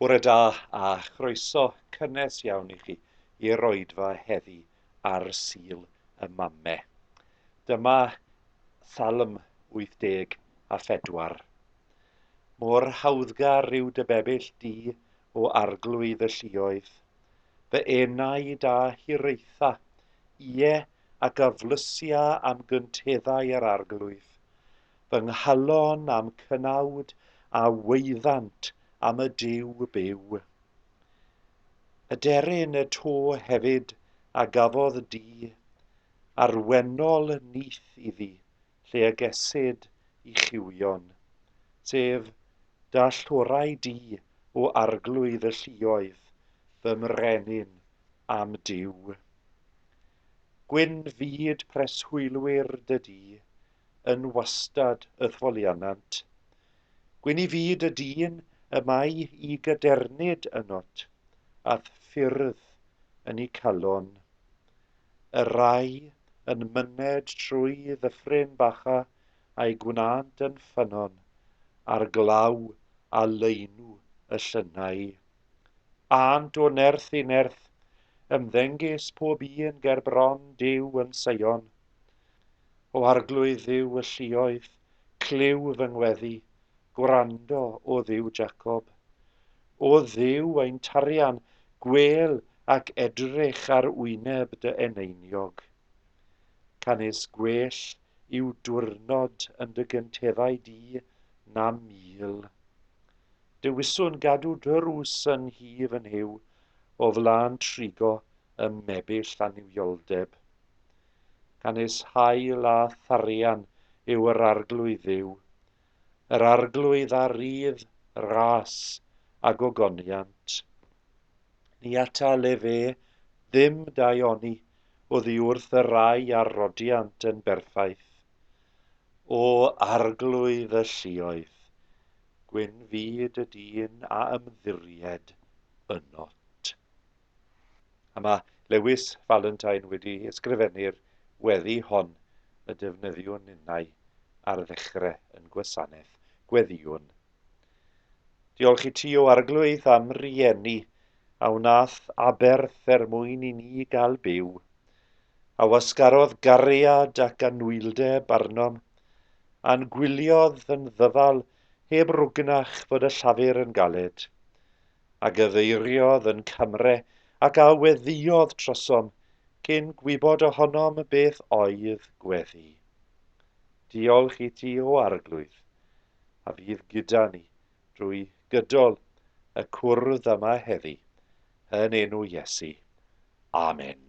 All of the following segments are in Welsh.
Bore da a chroeso cynnes iawn i chi i'r oedfa heddi ar Sul y Mame. Dyma Salm 84. Mor hawddgar yw dy bebyll di o arglwydd y lluoedd. Fy enaid a hiraetha, ie, ac aflysia am gynteddau yr arglwydd. Fy nghalon am cynawd a weuddant am y Duw byw. Aderyn y to hefyd a gafodd di, arwennol nyth iddi, lle y gesid i chiwion, sef dalltwrau du o arglwydd y lluoedd, fy mrenin a'm Duw. Gwyn fyd preswylwyr dy du, yn wastad y thwolianant. Gwyn i fyd y dyn y mae i gadernid ynot, a'th ffyrdd yn i calon. y rai yn myned trwy ddyffryn bacha a'i gwnânt yn ffynnon ar glaw a laenu y llynnau. Ânt o nerth i nerth, ymddengys pob un ger bron Duw yn Seion. O arglwydd Dduw y lluoedd, clyw fy ngweddi, gwrando, o Dduw Jacob. O Dduw ein tarian, gwel ac edrych ar wyneb dy eneiniog. Canys gwell yw dwrnod yn dy gynteddau di na mil. Dewiswn gadw drws yn hi fy nhyw, o flan trigo ym mebyll annuwioldeb. Canys hael a tharian yw yr arglwydd dduw, yr Arglwydd a rydd ras a gogoniant. Ni atal efe ddim daioni oddi wrth y rai a rodiant yn berffaith. O Arglwydd y lluoedd, gwyn fyd y dyn a ymddiried ynot. A mae Lewis Valentine wedi ysgrifennu'r weddi hon y defnyddiwn ninnau ar ddechrau yn Gwasanaeth Gweddïwn. Diolch i ti o Arglwydd am rieni a wnaeth aberth er mwyn i ni gael byw, a wasgarodd gariad ac anwyldeb arnom, a'n gwyliodd yn ddyfal heb rwgnach fod y llafur yn galed. a gyfeiriodd yn camre ac a weddïodd trosom cyn gwybod ohonom beth oedd gweddi. Diolch i ti o Arglwydd, a fydd gyda ni drwy gydol y cwrdd yma heddi, yn enw Iesu. Amen.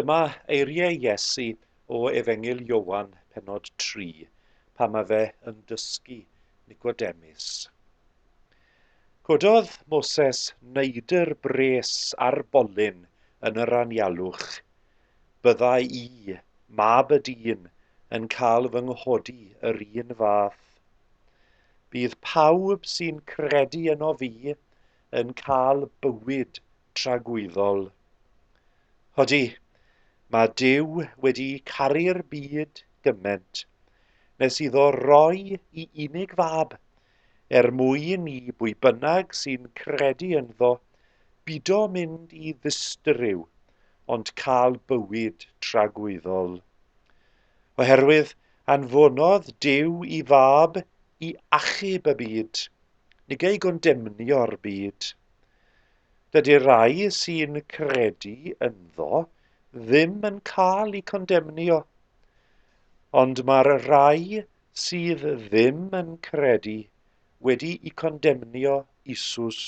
Dyma eiriau Iesu o Efengyl Iowan, penod 3, pan mae fe yn dysgu Nicodemus. Cododd Moses neidr bres ar bolyn yn yr anialwch, Byddai i, mab y dyn, yn cael fy nghodi yr un fath. Bydd pawb sy'n credu yno fi yn cael bywyd tragwyddol. Hodi, mae Dyw wedi caru'r byd gyment, nes iddo roi i unig fab er mwyn i bwy bynnag sy'n credu ynddo bido mynd i ddistryw ond cael bywyd tragwyddol. Oherwydd anfonodd Duw i fab i achub y byd, nid ei gondemnio'r byd. Dydy'r rai sy'n credu ynddo ddim yn cael eu condemnio, ond mae'r rai sydd ddim yn credu wedi'u condemnio isus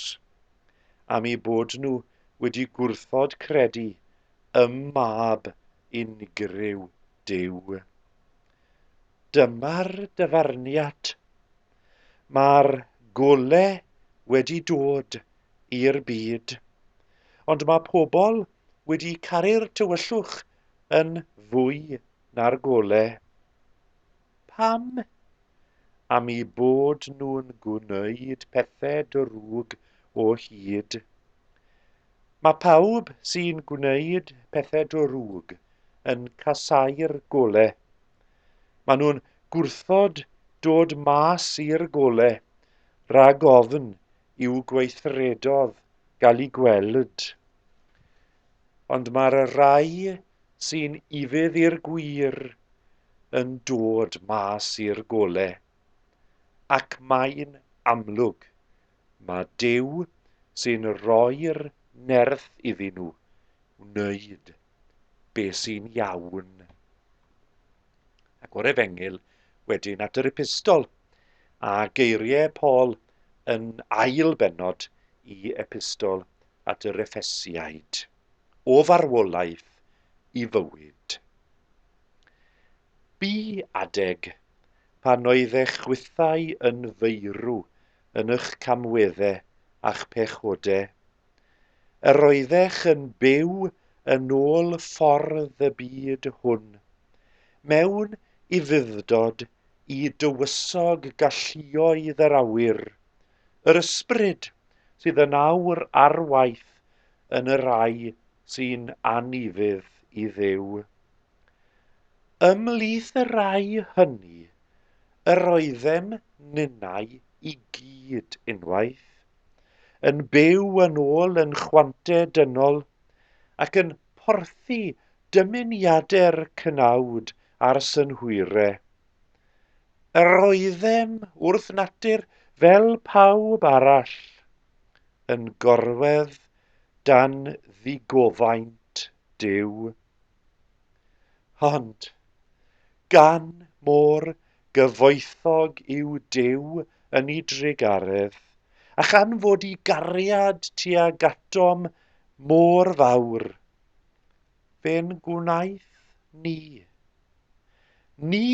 am eu bod nhw wedi gwrthod credu ym Mab unigryw Duw. Dyma'r dyfarniad. Mae'r gole wedi dod i'r byd, ond mae pobl wedi caru'r tywyllwch yn fwy na'r gole. Pam? Am i bod nhw'n gwneud pethe drwg o hyd. Mae pawb sy'n gwneud pethe drwg yn casau'r gole. Mae nhw'n gwrthod dod mas i'r gole rhag ofn i'w gweithredodd gael i gweld. ond mae'r rhai sy'n ufudd i'r gwir yn dod mas i'r gole. Ac mae'n amlwg, mae Duw sy'n rhoi'r nerth iddyn nhw wneud be sy'n iawn. Ac o'r efengyl wedyn at yr epistol, a geiriau Paul yn ail bennod i Epistol at yr Effesiaid, O Farwolaeth i Fywyd. Bu adeg pan oeddech chwithau yn feirw yn ych camwedde a'ch pechode. Yr oeddech yn byw yn ôl ffordd y byd hwn, mewn ufuddod i dywysog galluoedd yr awyr, yr ysbryd sydd yn awr ar waith yn y rhai sy'n anufudd i Dduw. Ymhlith y rhai hynny, yr oeddem ninnau i gyd unwaith, yn byw yn ôl yn chwante dynol ac yn porthi dymuniadau'r cnawd a'r synhwyre. Yr oeddem wrth natur fel pawb arall, yn gorwedd dan ddigofaint Duw. Ond, gan mo'r Gyfoethog yw Duw yn 'i drugaredd, a chan fod 'i gariad tuag atom mor fawr, fe'n gwnaeth ni. Ni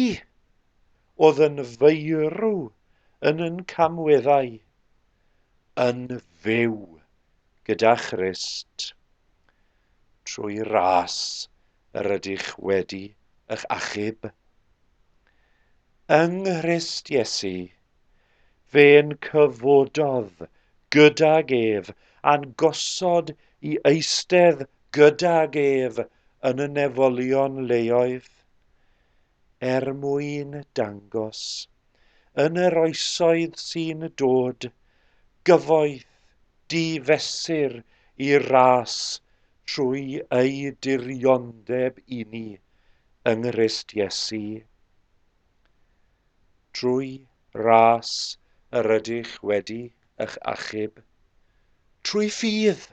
oedd yn feirw yn yn camweddau, yn fyw gyda Christ. Trwy ras yr ydych wedi eich achub. Yng Nghrist Iesu, fe'n cyfododd gydag ef a'n gosod i eistedd gydag ef yn y nefolion leoedd, er mwyn dangos yn yr oesoedd sy'n dod, gyfoeth, di-fesur i'r ras trwy ei diriondeb i ni yng Nghrist Iesu. Trwy ras yr ydych wedi eich achub. Trwy ffydd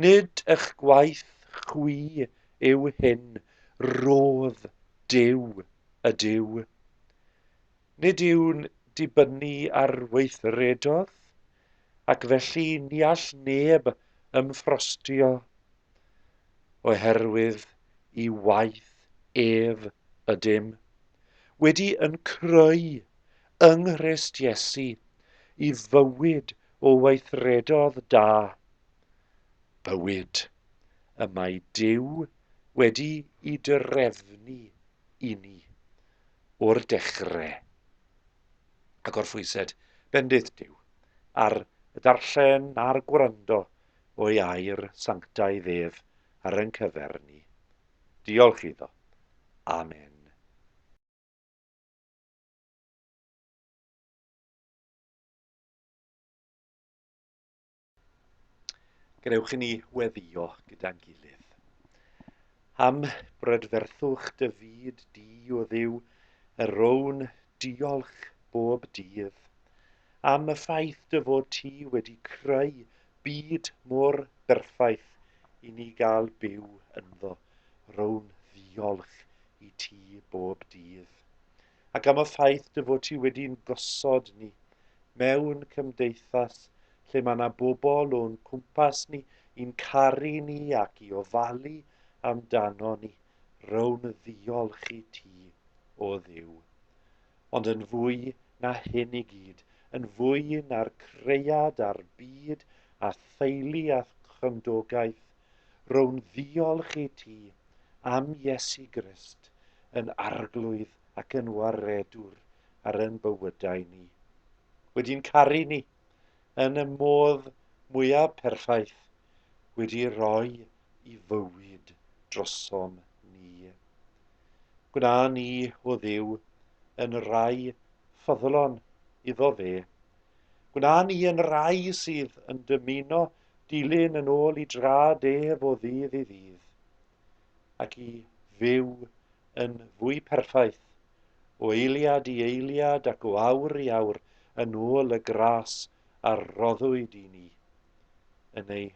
Nid ych gwaith chwi yw hyn, rhodd Duw y Duw. Nid yw'n dibynnu ar weithredodd, ac felly ni all neb ymffrostio, oherwydd i waith ef ydym, wedi yn creu yng Nghrist Iesu i fywyd o weithredodd da, bywyd y mae Duw wedi i drefnu i ni o'r dechre. A gorphwysed bendith Duw ar y darllen a'r gwrando o'i air sanctaidd ef ar yn cyfer ni. Diolch iddo. Amen. Gwnewch i ni weddio gyda'n gilydd. Am brydferthwch dy fyd di o ddiw, y rown diolch bob dydd. Am y ffaith dy fod ti wedi creu byd mor berffaith i ni gael byw ynddo. row'n ddiolch i ti bob dydd, ac am y ffaith dy fod ti wedi'n gosod ni mewn cymdeithas lle mae yna bobl o'n cwmpas ni i'n caru ni ac i ofalu amdano ni, row'n ddiolch i ti, o Dduw. Ond yn fwy na hyn i gyd, yn fwy na'r cread a'r byd a theulu a chymdogaeth, Row'n ddiolch i ti am Iesu Grist yn arglwydd ac yn waredwr ar yn bywydau ni. Wedi'n caru ni yn y modd mwyaf perffaith, wedi roi i fywyd drosom ni. Gwna ni, o ddiw, yn rai ffyddlon iddo fe. Gwna ni yn rai sydd yn dymuno dilyn yn ôl i drad ef o ddydd i ddydd, ac i fyw yn fwy perffaith, o eiliad i eiliad ac o awr i awr, yn ôl y gras a roddwyd i ni, yn ei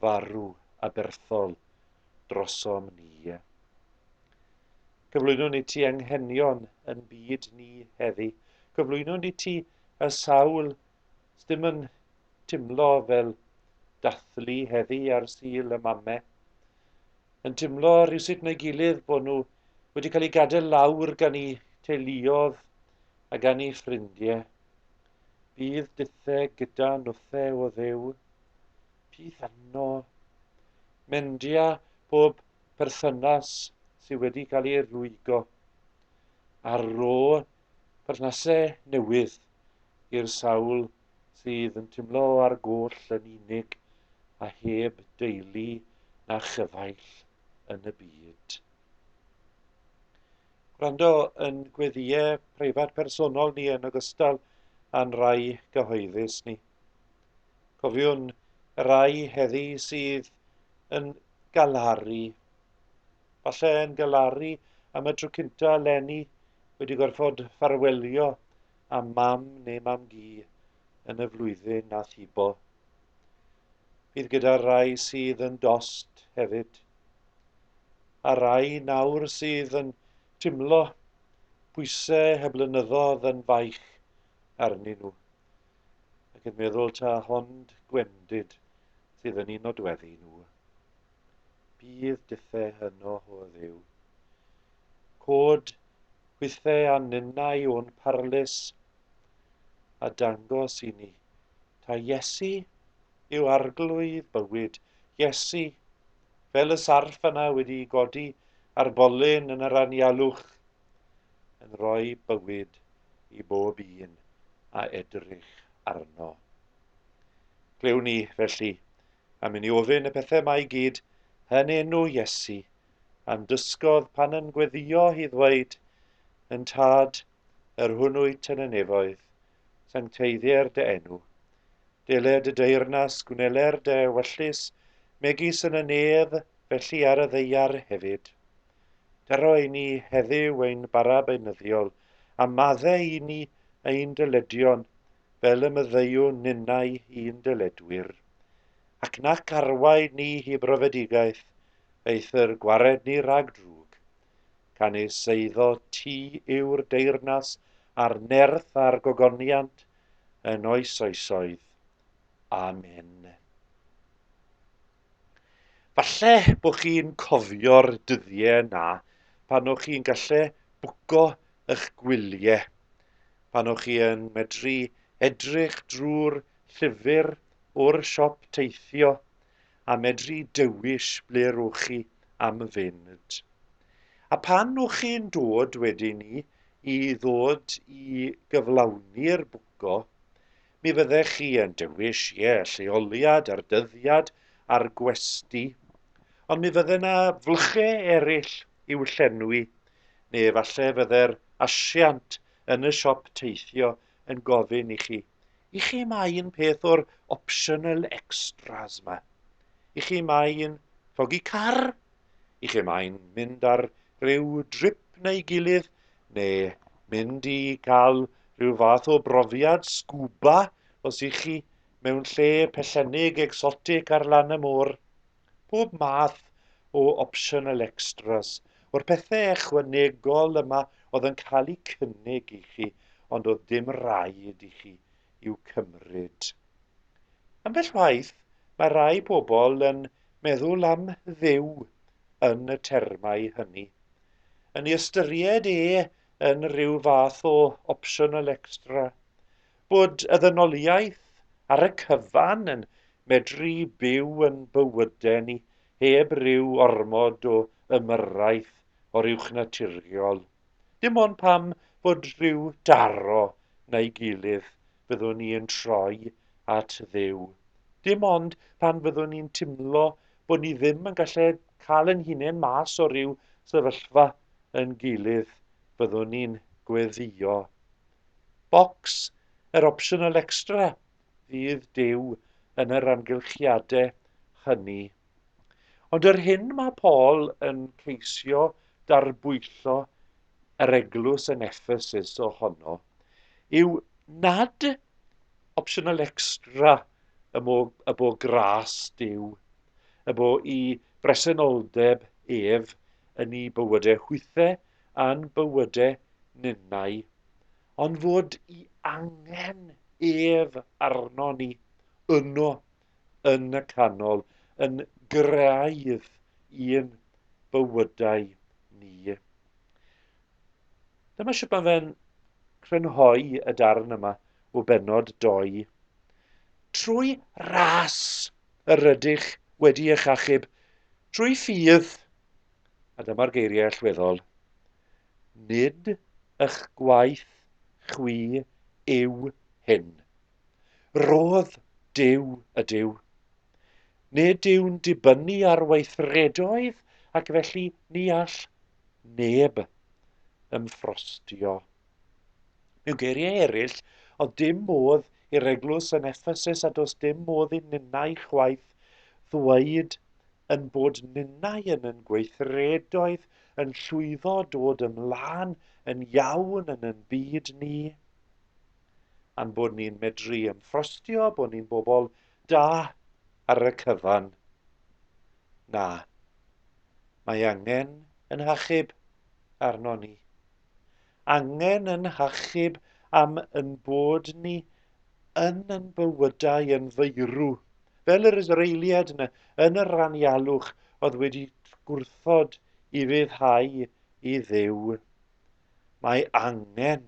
farw aberthol drosom ni. Cyflwynwn i ti anghenion yn byd ni heddi, cyflwynwn i ti y sawl Sdim yn timlo fel dathlu heddi ar Sul y Mame. Yn timlo rhywsut na'i gilydd bod nhw wedi cael eu gadael lawr gan eu teuluodd a gan eu ffrindie. Bydd dithe gyda nwthe o ddew. Pith anno. Mendia pob perthynas sydd wedi cael ei rwygo. Ar ro perthnasau newydd i'r sawl sydd yn timlo ar goll yn unig a heb deulu na chyfaill yn y byd. Gwrando yn gweddiau preifat personol ni yn ogystal â'n rai gyhoeddus ni. Cofiwn y rai heddi sydd yn galaru Falle yn galaru am y tro cynta eleni wedi gorfod ffarwelio a mam neu mam gi yn y flwyddyn na thibo. Bydd gyda'r rai sydd yn dost hefyd. A rai nawr sydd yn timlo pwysau y blynyddoedd yn faich arnyn nhw. Ac yn meddwl ta hond gwendid sydd yn un nodweddu nhw. Bydd dithau hyno ho dduw. Cod hwythau a ninnau o'n parlys, a dangos i ni ta Iesu yw arglwydd bywyd. Iesu, fel y sarff yna wedi godi ar bolyn yn yr anialwch, yn rhoi bywyd i bob un a edrych arno. Glewn ni, felly, Am inni ofyn y pethau mae i gyd yn enw Iesu, a'n dysgodd pan yn gweddio hi ddweud, Yn Tad, yr hwn wyt yn y nefoedd, sancteiddier dy enw. Dele dy deyrnas, gwneler dy ewyllys, megis yn y nef, felly ar y ddeiar hefyd. Daro i ni heddiw ein bara beunyddiol, a madde i ni ein dyledion, fel y myddeiwn ninnau i'n dyledwyr. ac nac arwain ni hi brofedigaeth, eithr gwared ni rhag drwg. Canys eiddo ti yw'r deyrnas a'r nerth a'r gogoniant yn oes oesoedd. Amen. Falle bod chi'n cofio'r dyddiau na pan o'ch chi'n gallu bwco eich gwyliau, pan o'ch chi yn medru edrych drwy'r llyfr o'r siop teithio a medru dewis ble rwch chi am fynd. A pan rwch chi'n dod wedyn ni i ddod i gyflawni'r bwco, mi fyddech chi yn dewis, ie, lleoliad a'r dyddiad a'r gwesty, ond mi fydde na flche eraill i'w llenwi, neu efallai fydde'r asiant yn y siop teithio yn gofyn i chi, i chi mae un peth o'r optional extras yma. I chi mae un llogi car, i chi mae'n mynd ar ryw drip neu gilydd, neu mynd i cael rhyw fath o brofiad sgwba os i chi mewn lle pellennig exotic ar lan y môr. pob math o optional extras o'r pethe echwanegol yma oedd yn cael eu cynnig i chi ond oedd dim raid i chi i'w cymryd. Ambell waith mae rai pobl yn meddwl am Dduw yn y termau hynny. Yn ei ystyried e yn rhyw fath o optional extra. Bod y ddynoliaeth ar y cyfan yn medru byw yn bywydau ni heb ryw ormod o ymyrraeth o'r uwchnaturiol. Dim ond pam fod rhyw daro na'i gilydd fyddwn ni yn troi at Dduw. Dim ond pan fyddwn ni'n timlo bod ni ddim yn gallu cael yn hunain mas o ryw sefyllfa yn gilydd fyddwn ni'n gweddïo Bocs yr opsiynol extra fydd Duw yn yr amgylchiadau hynny. Ond yr hyn mae Paul yn ceisio darbwyllo yr eglwys yn Ephesus ohono yw nad opsiynol extra y mo y bo gras Duw, y bo i bresenoldeb ef yn ei bywydau hwythau a'n bywyde ninnau, ond fod i angen ef arnon ni, yno, yn y canol, yn graidd i'n bywydau ni. Dyma sut mae fe'n crynhoi y darn yma o benod 2. Trwy ras yr ydych wedi eich achub, trwy ffydd A dyma'r geiriau allweddol, Nid ych gwaith chwi yw hyn. Rhodd Duw ydyw. Nid yw'n dibynnu ar weithredoedd ac felly ni all neb ymffrostio Mewn geiriau eraill, oedd dim modd i'r eglwys yn Effesus a does dim modd i ninnau chwaith ddweud yn bod ninnau yn yn gweithredoedd yn llwyddo dod ymlaen yn iawn yn yn byd ni, a'n bod ni'n medru ymffrostio bod ni'n bobl da ar y cyfan. Na, mae angen yn hachub arno ni. angen yn hachub am yn bod ni yn yn bywydau yn feirw, fel yr Israeliad yna yn yr anialwch oedd wedi gwrthod i ryddhau i ddew. Mae angen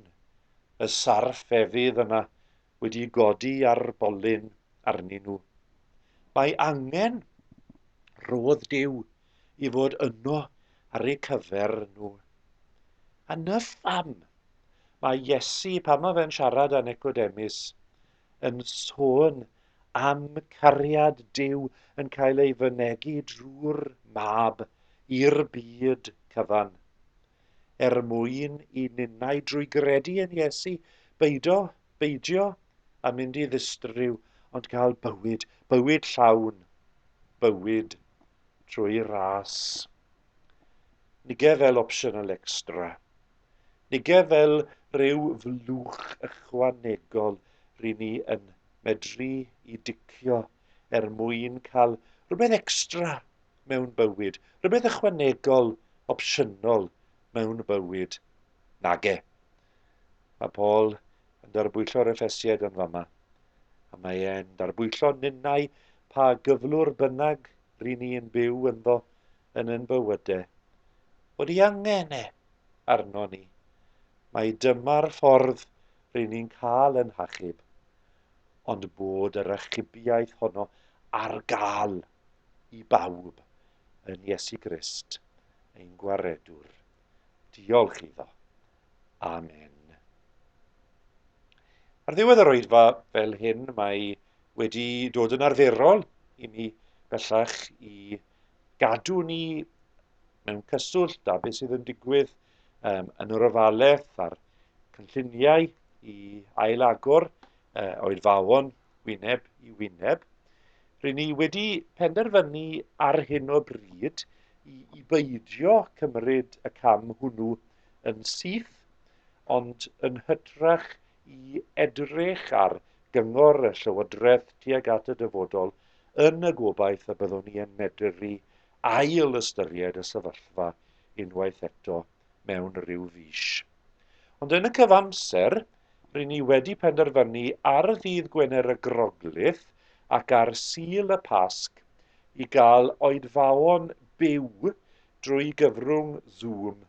y sarff efydd yna wedi godi ar bolyn arnyn nhw. Mae angen rodd Duw i fod yno ar eu cyfer nhw. A na pham, mae Iesu, pan mae fe'n siarad â Necodemus, yn sôn am cariad Duw yn cael ei fynegi drwy'r mab i'r byd cyfan. Er mwyn i ninnau drwy gredu yn Iesu beido Beidio â mynd i ddistryw ond cael bywyd, bywyd llawn, bywyd trwy ras. Nige fel optional extra. Nige fel rhyw flwch ychwanegol ry ni yn medru i dicio er mwyn cael rhywbeth extra mewn bywyd, rhywbeth ychwanegol, opsiynol mewn bywyd. Nage. Mae Paul yn darbwyllo reffesied yn fama, a mae e'n darbwyllo ninnau pa gyflwr bynnag ry'n ni yn byw ynddo yn yn bywyde, bod ei angen e arnon ni. Mae dyma'r ffordd ry'n ni'n cael yn hachub, ond bod yr achubiaeth honno ar gael i bawb yn Iesu Grist, ein Gwaredwr Diolch iddo. Amen. Ar ddiwedd yr oedfa fel hyn, mae wedi dod yn arferol i ni bellach i gadw ni mewn cyswllt â beth sydd yn digwydd um, yn yr ofalaeth a'r cynlluniau i ailagor uh, oedfawon wyneb i wyneb. Rydyn ni wedi penderfynu ar hyn o bryd i, i beidio cymryd y cam hwnnw yn syth, ond yn hytrach i edrych ar gyngor y Llywodraeth tuag at y dyfodol yn y gobaith y byddwn ni yn medru ail ystyried y sefyllfa unwaith eto mewn rhyw fis. Ond yn y cyfamser, ry'n ni wedi penderfynu ar ddydd Gwener y Groglith ac ar Sul y Pasg i gael oedfaon byw drwy gyfrwng Zoom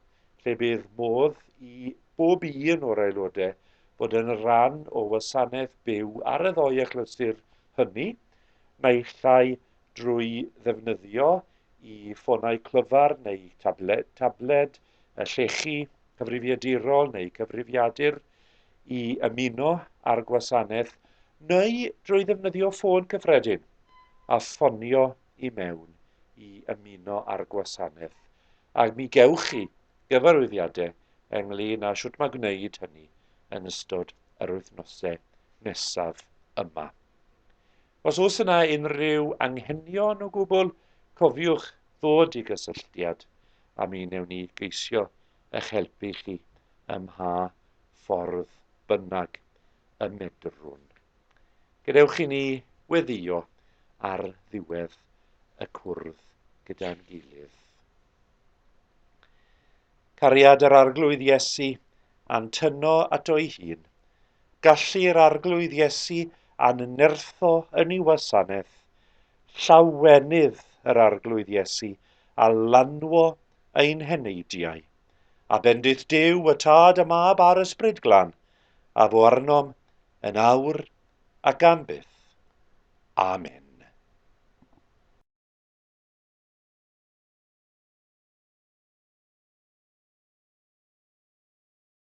lle bydd modd i bob un o'r aelodau fod yn rhan o wasanaeth byw ar y ddou achlysur hynny, naill ai drwy ddefnyddio i ffonau clyfar neu tabled, tabled llechi cyfrifiadurol neu cyfrifiadur i ymuno â'r gwasanaeth neu drwy ddefnyddio ffôn cyffredin a ffonio i mewn i ymuno â'r gwasanaeth a mi gewch chi gyfarwyddiadau ynglyn â sut mae gwneud hynny yn ystod yr wythnosau nesaf yma. Os oes yna unrhyw anghenion o gwbl, cofiwch ddod i gysylltiad â mi newn ni geisio eich helpu chi ym mha ffordd bynnag y medrwn. Gadewch i ni weddio ar ddiwedd y cwrdd gyda'n gilydd. Cariad yr Arglwydd Iesu a'n tyno ato'i hun, Gallu'r Arglwydd Iesu a'n nertho yn ei wasanaeth, llawenydd yr Arglwydd Iesu, a lanwo ein heneidiau. A bendith Duw, y Tad a Mab a'r Ysbryd Glan, a fo arnom, yn awr ac am byth. Amen.